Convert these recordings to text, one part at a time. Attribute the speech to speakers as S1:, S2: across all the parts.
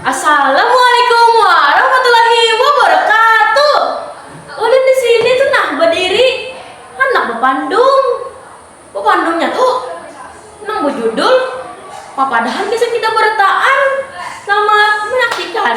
S1: Assalamualaikum warahmatullahi wabarakatuh. Ulun di sini tu nah badiri handak bapandung. Bapandungnya tu nang bajudul Papadahan Kisah Kita Barataan Selamat Menyaksikan.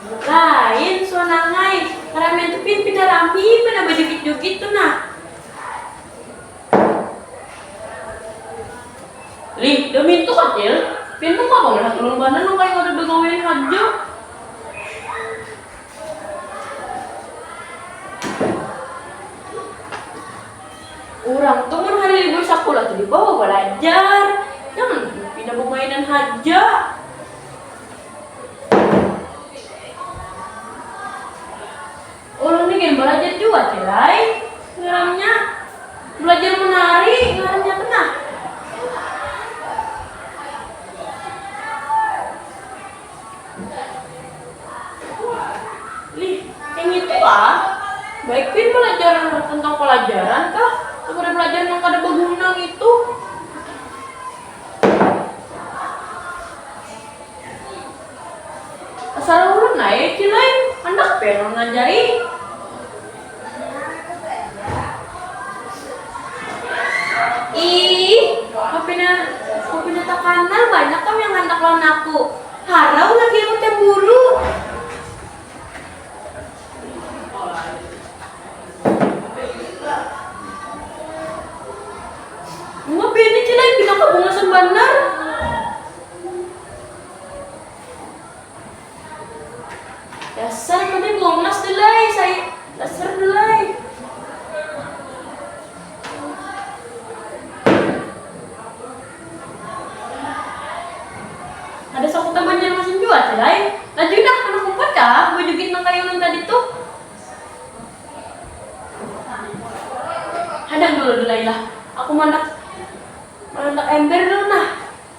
S1: Lain suah nangai, karamian tu pin pina rami banar bajugit-jugit tu nah. Lih, dami tu kacil, pin tu mapa malihat ulun banar nang kaya kada bagawian haja. Urang tu mun hari libur sakulah tu dibawa balajar, jangan pina bamainan haja. Ulun ni gin balajar jua cil ai ngarannya balajar menari ngarannya tu nah. Lih kaya ngitu ah baik gin balajar tentang palajaran kah daripada balajar nang kada baguna ngitu. Salah ulun ai cil ai, handak pian ulun ajari. Iih, papina papina takanal banyak am yang handak lawan aku, harau lagi aku camburu. Uma pian ni cil ai, pinaka bungasan banar. Dasar mending longas delay saya. Dasar delay. Ada saku teman yang langsung jual delay. Lanjut dah mana kumpul dah bujugin nang kayu nang tadi tuh. Hadang dulu delay lah. Aku mandak mandak ember dulu nah.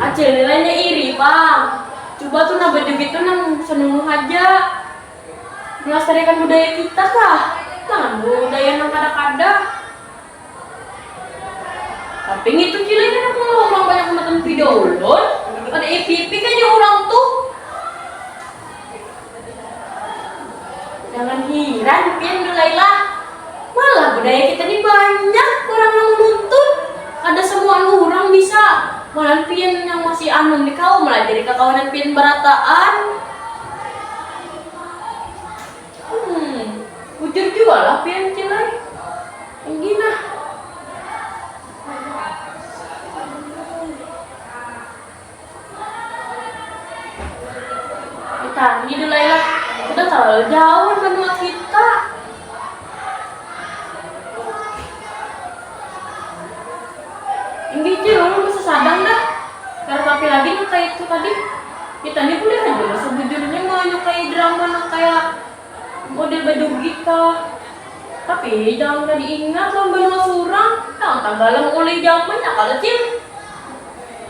S1: Acil lainnya iri pang, cuba tuh nah bajugit tuh nang senunu haja, melastariakan budaya kita kah, jangan budaya nang kada kada. Tapi ngitu cilai kada kawa urang banyak matan video ulun, kada ipipik haja urang tuh. Jangan hiran pian belailah. Malah budaya kita ni banyak orang nang menuntut. Kada samuaan urang bisa. Malahan pian nang masih anum ni kawa malajari kakawanan pian barataan. Hmm, bujur jua lah pian cil ai. Enggi nah. Utangi dulu lah, udah terlalu jauh menua kita. Ini cuy, orang bisa sadang dah. Karena tapi lagi tuh kayak itu tadi. Kita ini boleh aja lah sebujurnya mau nyukai drama yang kayak model baju kita. Tapi jangan gak diingat lah menua surang. Yang tanggalam oleh zamannya kalau cil.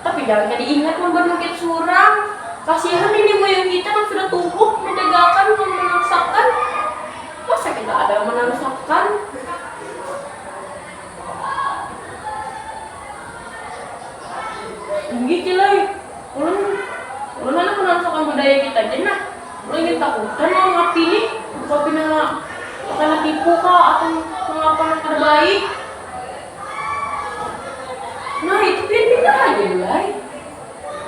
S1: Tapi jangan kada ingat mambanukit surang, kasihan nini moyang kita nang sudah tumbuk mandagakan nang manangsakan, masa kita kada manangsakan. Inggih Ci Lai, ulun ulun handak manangsakan budaya kita ja nah, ulun gin takutan lawan hapi nih, rupa pina takena tipu kah atau nangapa nang kada baik. Nah, itu pian pindah haja dulu ai.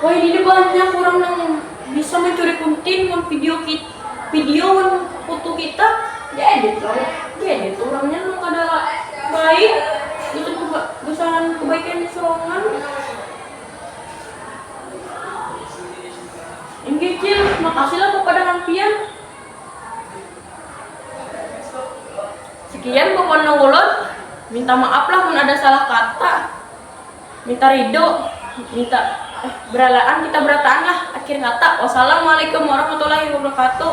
S1: Wahini ni banyak urang nang bisa mancuri kuntin wan video kit video wan foto kita di edit lalu di edit urangnya nang kada baik gasan keba gasan kebaikannya sorangan. Inggih cil, makasih lah kepada hang pian. Sekian pokoknya nang ulun. Minta maaf lah mun ada salah kata. Minta ridho, minta eh, beralaan kita berataan lah akhir kata. Wassalamualaikum warahmatullahi wabarakatuh.